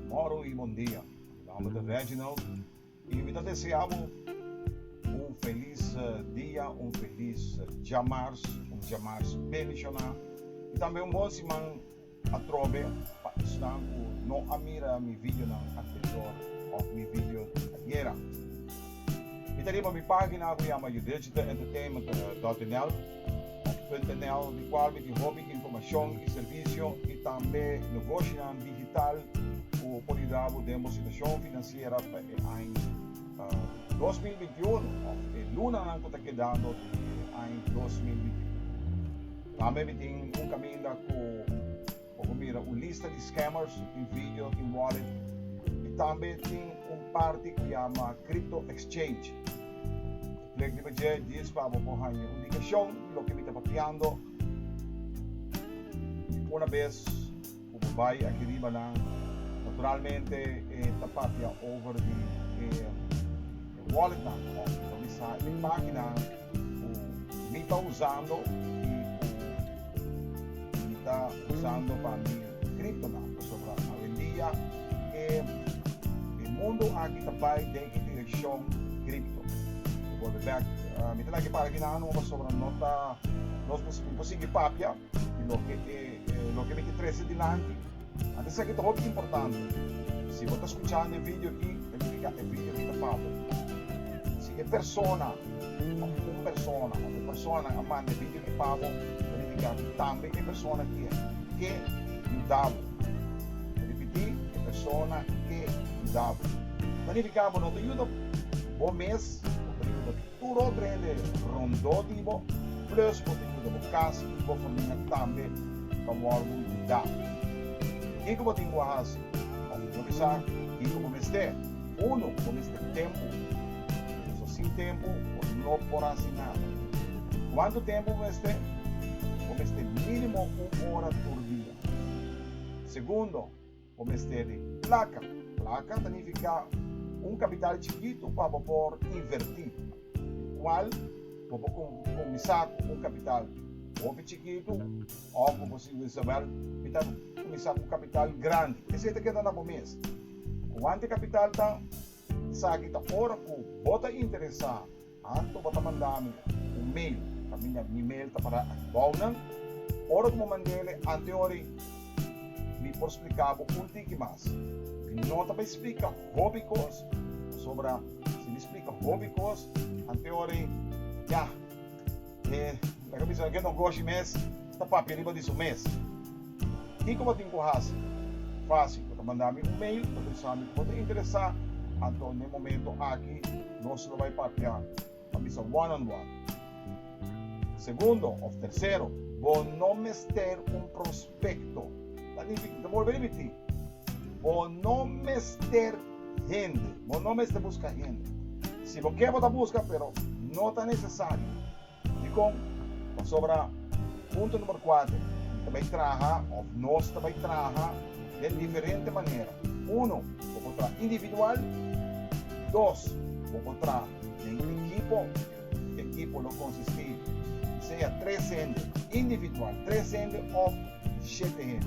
Moro y bondia. Mi nomber ta Reginald y mi ta desea bo un feliz eh, dia, un feliz eh, djamars, un djamars bendiciona y tambe un bon siman. Atrobe pa esnan cu no a mira mi videonan anterior of mi video di ayera. Mi ta riba mi pagina cu yama youdigitalentertainment.nl of .nl di cual mi tin hopi informacion y servicio y tambe nogoshinan digital cu por yuda bo den bo situacion financiera pa e aña dos mil binti unu of e lunanan cu ta kedando di e aña dos mil binti unu. Tambe mi tin un caminda cu bo por mira un lista di scammers, tin video, tin wallet y tambe tin un parti cu yama Crypto Exchange. E plek riba dje di es pa bo por haña un indicacion di loke mi ta papiando y una bes. Cu bo bay aki riba nan, naturalmente e ta papia over di e wallet nan of ta bisa e makinan cu mi ta usando y cu mi ta usando pa mi crypto nan. Pasobra awendia e mundo aki ta bay den e direccion crypto. Cu bo bay back, mi ta na ki para aki nan no pasobra no ta, nos ta, mi por sigui papia. I loke e loke mi ke trese dilanti a bisa ke ta hopi importante. Si bo ta skuchando e video aki, ta nifiká e video aki ta pa bo. Si e persona òf un persona òf e personanan a manda e video aki pa bo, ta nifiká ku tambe e persona aki a ke yuda bo. Ripití, e persona ke yuda bo. Ta nifiká bo no ta yuda bo mes, bo ta yuda Tur otro hende rondó di bo, plus bo ta yuda bo kas i bo famia tambe pa wòrdu yuda. Kiko bo tin ku a hasi? Òf bo ta sa kiko bo mester? Unu, bo mester tempu. Pasobra sin tempu bo no por hasi nada. Kuantu tempu bo mester? Bo mester mínimo un ora tur dia. Segundo. Bo mester di plaka. Plaka ta nifiká un kapital chikitu pa bo por invertí, di kual bo por kuminsá ku un kapital hopi chikitu òf bo por siña Isabel mi ta kuminsá ku kapital grandi. Esei ta keda na bo mes. Kuantu e kapital ta? Esaki ta ora ku bo ta interesá. Anto bo ta manda mi un mail, kaminda mi mail ta para atbou nan. Ora ku bo manda el e anteori, mi por splika bo un tiki mas. Mi no ta bai splika hopi kos, pasobra si mi splika hopi kos anteori, yah, E ta ka bisa, Get Ogoshi mes ta papia riba di su mes. Kiko bo tin ku hasi? Fásil, bo ta manda mi un mail pa trishá mi ku bo ta interesá, anto n'e momento aki nos lo bai papia, pa bisa one on one. Segundo òf tersero, bo no mester un. pekto. Ta nifiká, ta bolbe ripití, bo no mester hende, bo no mester buska hende. Si bo ke bo ta buska pero no ta nesesario. Dikon? Pasobra punto numero kuater, ta bai traha òf nos ta bai traha den diferente manera. Uno, bo por traha individual. Dos, bo por traha den ekipo. Ekipo lo konsistí sea tres hende individual, tres hende òf shete hende.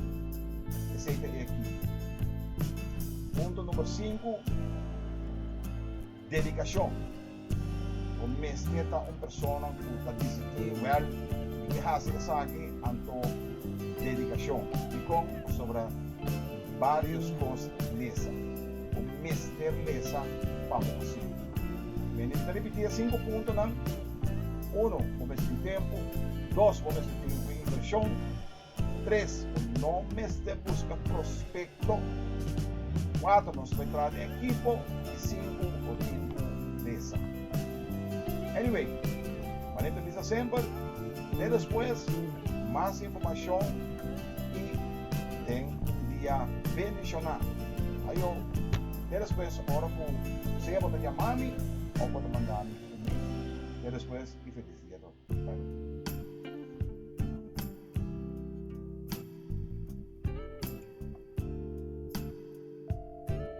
Esei ta e ekipo. Punto number sinku, Dedikashon. Bo mester ta un persona ku ta disiplin. Wèl, mi ke hasi esaki, anto dedikashon. Dikon? Pasobra barios kos lesa. Bo mester lesa pa bo hasiu. Minister ripití e sinku puntonan, Uno, bo mester tin tempu. Dos, bo mester tin un invershon. Tres, bo no mester buska prospekto. Kuater, nos por traha den ekipo. I sinku, bo tin ku mesa. Anyway, manera mi ta bisa semper, te despues, mas informashon. i den un dia bendishoná. Ayo, te despues ora ku sea bo ta yama mi òf bo ta manda mi un email. Te despues i felis dia tur. Bye.